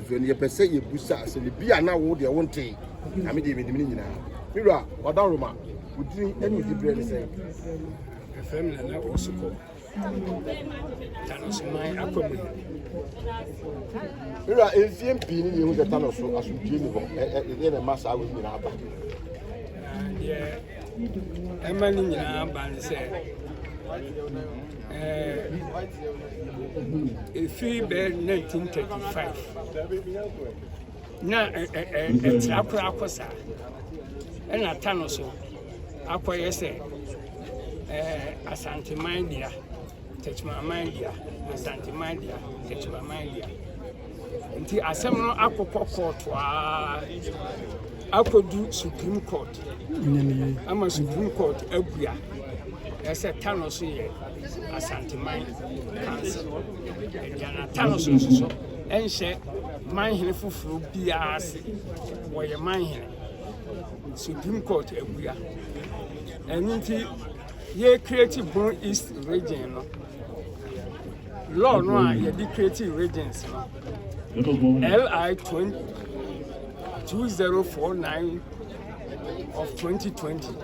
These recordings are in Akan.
mfiri no yɛpɛ sɛ yɛbusa sɛ ne bi a na wo deɛ wontee na me deɛ menim no nyinaa me wura ɔda roma wodini ɛne wodi berɛ ne sɛ ɛfɛ me nana ɔsekɔ Tanosoman akɔ mu no. Wura, mfie pii ni na ehu sɛ Tano so asomdwoe ni hɔ. Ɛdeɛ na ɛma saa wei nyinaa ba. Deɛ ɛma ne nyinaa ba ne sɛ ɛfiri bɛɛ 1935 Na ɛtra koraa kɔ saa, ɛna ta no so akɔyɛ sɛ Asanteman dea, Techimanman dea, Asanteman dea, Techimanman dea. Nti asɛm no akokɔ kɔɔto a akɔdu Supreme Court ama Supreme Court abua ɛsɛ ta no so yɛ Asanteman Council agya no atano so nsosɔ nhyɛ manhene foforɔ biara ase wɔyɛ manhene Supreme Court abua ɛno nti yɛ create Bono East region no law no a yɛde create regions no LI 2049 of 2020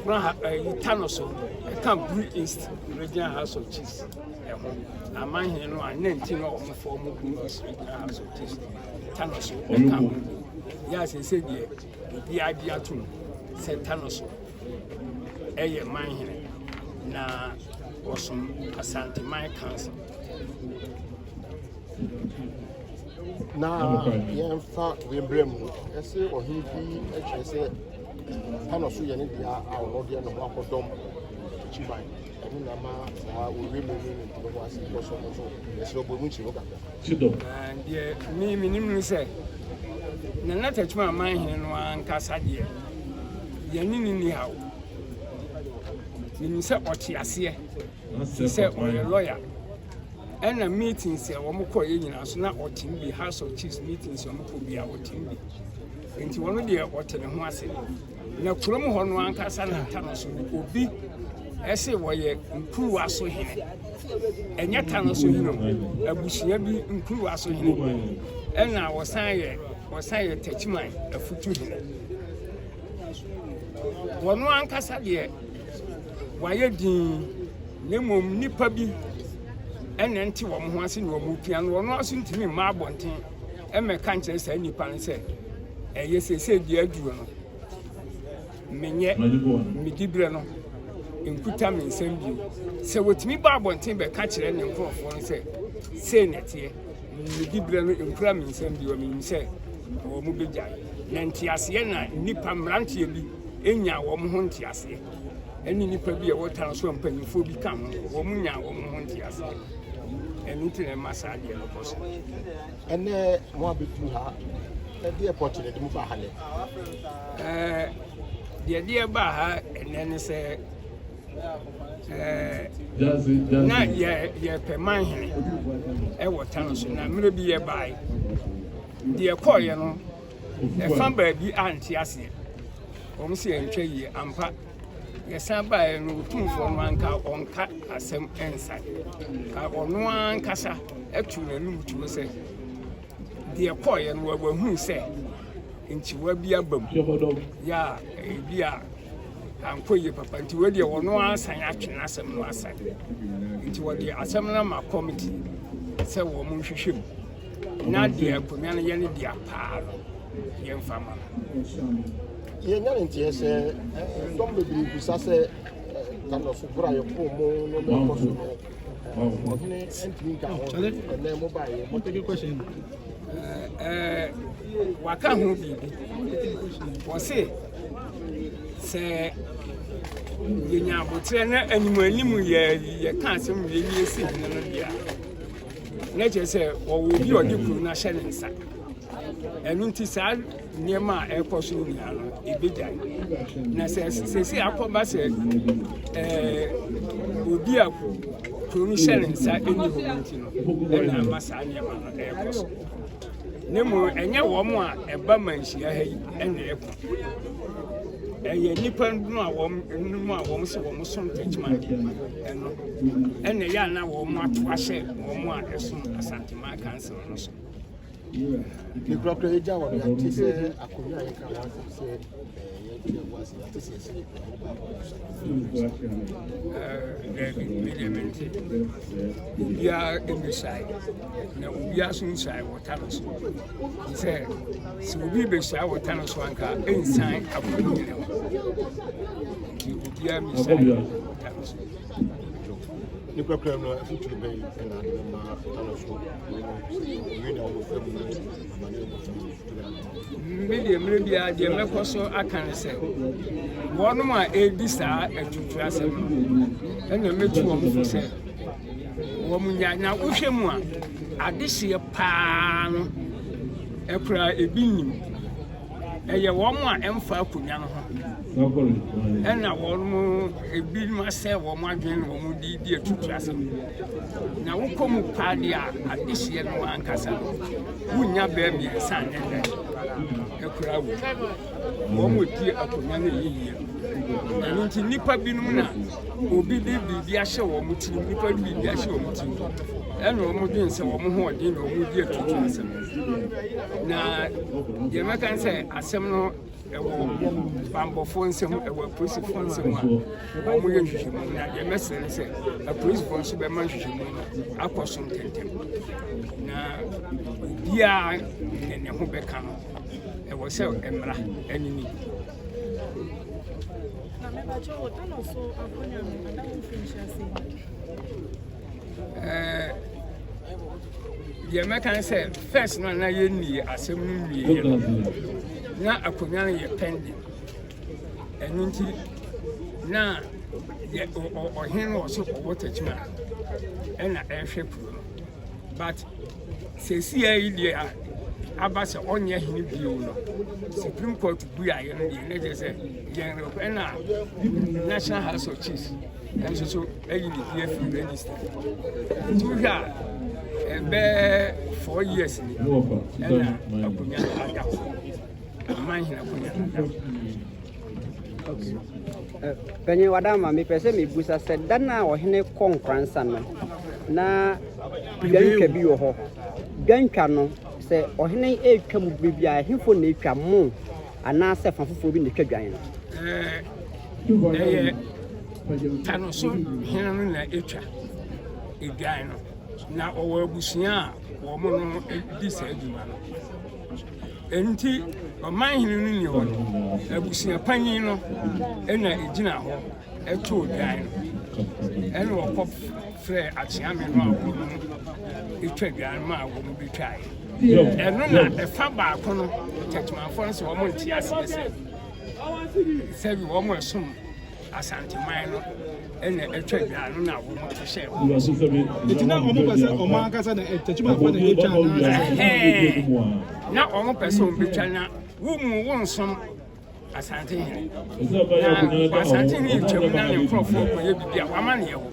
Kura ha ɛyi ta no so ɛka Bru East Regional House of Chiefs ɛho na amanhene no a ne nti na wɔn fɔ wɔn Bru East Regional House of Chiefs ta no so ɛka ho yɛ asese deɛ obi agye atum sɛ ta no so ɛyɛ manhene na wɔsom Asanteman Council. Na yɛmfa wei mbrɛ mu ɛsɛ ɔhene bi kyerɛ sɛ panɔ so yɛ ne deɛ a ɔno deɛ ne ho akɔdɔm kyiban ɛno na ma saa ɔwie mu ne ne ntoma mu ase kɔ so no so ɛsɛ ɔbɔ mu kyerɛ kakra deɛ me menim ne sɛ na na tatuma aman hene no ankasa deɛ yɛne ne ni haw menim sɛ ɔte aseɛ Te sɛ ɔyɛ lawyer ɛna meetings a wɔn kɔ yɛ nyinaa so na ɔtem bi house of chiefs meetings wɔn kɔ bi a ɔtem bi nti wɔn deɛ ɔte ne ho ase na kurom hɔ no ankasa na ta no so obi ɛsɛ wɔyɛ nkuruwa so hene ɛnyɛ ta no so hene abusua bi nkuruwa so hene ɛna wɔsan yɛ wɔsan yɛ takyiman afutu hene wɔn ankasa deɛ wɔayɛ dinn, na mmom nnipa bi na ɛnte wɔn ho ase na wɔpia no, wɔn nso ntumi mma abɔnten mmɛka nkyerɛ saa nnipa no sɛ ɛyɛ seesei deɛ aduro no menyɛ medi berɛ no nkuta me nsɛm bio sɛ wɔtumi ba abɔnten bɛka kyerɛ ne nkurɔfoɔ no sɛ sei na ɛteɛ medi berɛ no nkura me nsɛm bio menim sɛ wɔn bɛgyae na nteaseɛ na nnipa mmeranteɛ bi nyaa wɔn ho nteaseɛ ɛne nnipa bi a ɛwɔ tan so a mpanimfoɔ bi ka ho wɔn nyaa wɔn ho nteaseɛ ɛno nti na ɛma saa adeɛ no kɔ so ɛnɛ mo abɛduru ha ɛdeɛ pɔte na ɛde mo ba ha nɛ deɛ deɛ ba ha ɛnɛ ne sɛ na yɛpɛ man hene ɛwɔ tan so na mmerɛ bi yɛbae deɛ kɔɔeɛ no Ɛfa baabi a nte aseɛ. Wɔn sɛ yɛntwa yie ampa. Yɛsan baeɛ no otumfoɔ no anka ɔnka asɛm nsa. Ka ɔno ankasa atu n'anum tuo sɛ deɛ kɔɔeɛ no wahunu sɛ nkyiwa bi aba mu. Yɛ a ebi a ankɔ yie papa nti wei deɛ ɔno asan atwe n'asɛm no asan. Nti wɔde asɛm no ama kɔmiti sɛ wɔn nhwehwɛ mu. Na deɛ akonwa no yɛ ne dea paa no, yɛmfa mma no. Yɛnya ne nteɛ sɛ dɔm bebree bisa sɛ Carlos boro a yɛpoo mo no mɛkɔ so no ɔhene ntumi nka ho ɛnɛ mobaeɛ motege question waka ho biribi ɔse sɛ yɛnya aboterɛ na anim anim yɛka asɛm yɛwie si hene no deɛ a na kyerɛ sɛ wɔwɔ obi a ɔde kuro no ahyɛ ne nsa ɛno nti saa nneɛma a ɛrekɔ so nyinaa no ɛbɛgya na sɛ sɛsi akɔba sɛ obi a kuro no hyɛ ne nsa ɛni hɔ no nti no ɛna ama saa nneɛma no ɛrekɔ so ne mu ɛnyɛ wɔn a ɛba manhyia ha yi ɛna ɛkɔ ɛyɛ nnipa no a wɔn no a wɔn sɛ wɔn so ntɛkyima no, ɛna ɛyɛ a na wɔn ato ahyɛ wɔn a ɛsom Asanteman Council no so. Nkurakura yɛ gya wɔ no yɛte sɛ akonnwa a yɛka ho asɛm sɛ yɛnkyerɛ ho asɛm yɛte sɛ ɛsɛ yɛkura ho baako daabi medeɛ mente obiara mmɛsae na obiara so nsae wɔ ta no so Sɛ sɛ obi bɛhyia wɔ tan so anka ɛnsan afo no nyina hɔ nti obiara mɛhyia yɛ tan so ne kɔkɔrɔ no afitiri bɛyi ɛna ade bɛ maa tano so ɔyɛ na ɔwɔ fam no amane ɔwɔ fam no fitiri ano. me deɛ mmerɛ bi a deɛ mɛkɔ so aka ne sɛ wɔnom a ɛredi saa atutu asɛm no ɛna mɛtu wɔn fo sɛ wɔnnya. Na wohwɛ mu a, adehyeɛ paa no, ɛkora ebi nnim. Ɛyɛ wɔn a ɛmfa akonnwa no ho. Ɛna wɔn ebi ma sɛ wɔn adwene na wɔn de di atutu asɛm. Na wokɔ mu paa deɛ a, adehyeɛ no ankasa no, wonnya bɛɛ mmiɛnsa ne dɛ. Ɛkora wo. wɔdie akonnwa no ɛyɛ yie ɛno nti nnipa binom na obi de biribi ahyɛ wɔn ti nnipa de biribi ahyɛ wɔn ti ɛna wɔn dwen sɛ wɔn ho ɔden na wɔn di atutu asɛm na deɛ mɛka sɛ asɛm no ɛwɔ bambɔfoɔ nsɛm ɛwɔ apolisifoɔ nsɛm a wɔn yɛ nhwehwɛmu na deɛ mɛsrɛ no sɛ apolisifoɔ nso bɛma nhwehwɛmu no akɔ so ntɛntɛm na obiara ne ne ho bɛka no ɛwɔ sɛ mmara ɛne ni. Eh, deɛ mɛka ne sɛ first no na yɛnni asɛm no nwieɛ no na akonnwa no yɛ pɛnde ɛno nti na ɔhene no wɔ so ɔwɔ takyima ɛna ɛhwɛ kuro no but Seesei deɛ aba sɛ ɔnyɛ hene bio no supreme court buaeɛ no deɛ na kyerɛ sɛ yɛn ɛna national house of chiefs nso so ayi ne din afiri register nti wohwɛ a ɛbɛɛ four years ni ɛna akonnwa no ada hɔ aman hene akonnwa no ada hɔ Panyin Wadama, mepɛ sɛ mebusa sɛ da no a ɔhene kɔ Nkransa no na dwantwa bi wɔ hɔ. Dwantwa no sɛ ɔhene retwa mu bere bi a ɛhefo na etwa mo anaasɛ fa foforɔ bi na etwa dwan no? Ɛyɛ tano so hene no na etwa edwan no na ɔwɔ abusua a wɔn no di saa adwuma no. Enti ɔmanhene no nni hɔ no, abusua panyin no na egyina hɔ too dwan no. Ɛnna wɔkɔfrɛɛ akyea me no a wɔtwa dwan no maa wɔbetwae. Ɛno na ɛfa baako no, Tetemanfoɔ no sɛ wɔn nte aseɛ sɛ sɛbi wɔn ɛsom Asanteman no na atwa dwa no na wɔn hyehyɛ hɔ. Nti na wɔn pɛ sɛ wɔn ankasa na tɛkyimafo na etwa anaasɛ. na wɔn pɛ sɛ wɔn betwa na wɔn mu wɔn nsom asantehene na asantehene twam na ne nkurɔfoɔ kɔyɛ biribi a wɔama ne yɛ hɔ.